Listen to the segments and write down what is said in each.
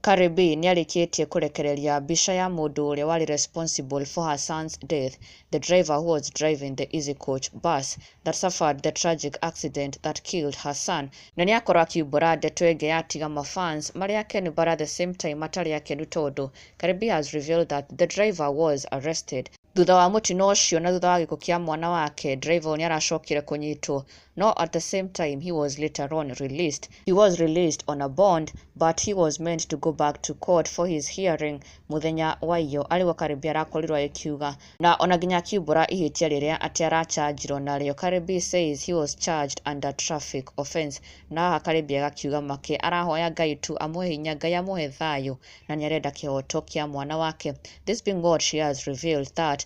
Carrie B nĩarĩkĩtie kũrekereria mbica ya mũndũ ũrĩa warĩ responsible for her son's death, the driver who was driving the Easy Coach bus that suffered the tragic accident that killed her son, na nĩakorwo akiumbũra ndeto ĩngĩ ya tiga ma fans marĩ akenu but at the same time matarĩ akenu tondũ Carrie B has revealed that the driver was arrested. Thutha wa mũtino ũcio na thutha wa gĩkuũ kĩa mwana wake, driver ũyũ nĩaracokire kũnyitwo No, at the same time, he was later on released. He was released on a bond, but he was meant to go back to court for his hearing muthenya wa iyo arĩ guo Karĩmbi arakorirwo agĩkiuga na ona nginya akiumbũra ihĩtia rĩrĩa atĩ arachanjirwo narĩo. Karĩmbi says he was charged under traffic offence na haha Karĩmbi agakiuga make arahoya Ngai tu amũhe hinya, Ngai amũhe thayũ na nĩarenda kĩhoto kĩa mwana wake. This being what she has revealed that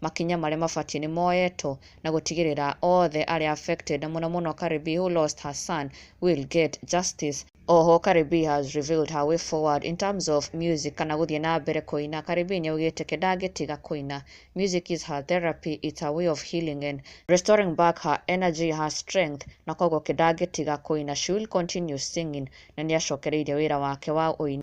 makinya marĩa mabatiĩ nĩ moyetwo na gũtigĩrĩra othe arĩa affected mũno mũno Karibi who lost her son will get justice. Oho Karibi has revealed her way forward in terms of music kana gũthiĩ na mbere kũina. Karibi nĩaugĩte ke ndangĩtiga kũina. Music is her therapy, it's her way of healing and restoring back her energy, her strength na koguo ke ndangĩtiga kũina. She will continue singing na nĩacokereirie wĩra wake wa ũini.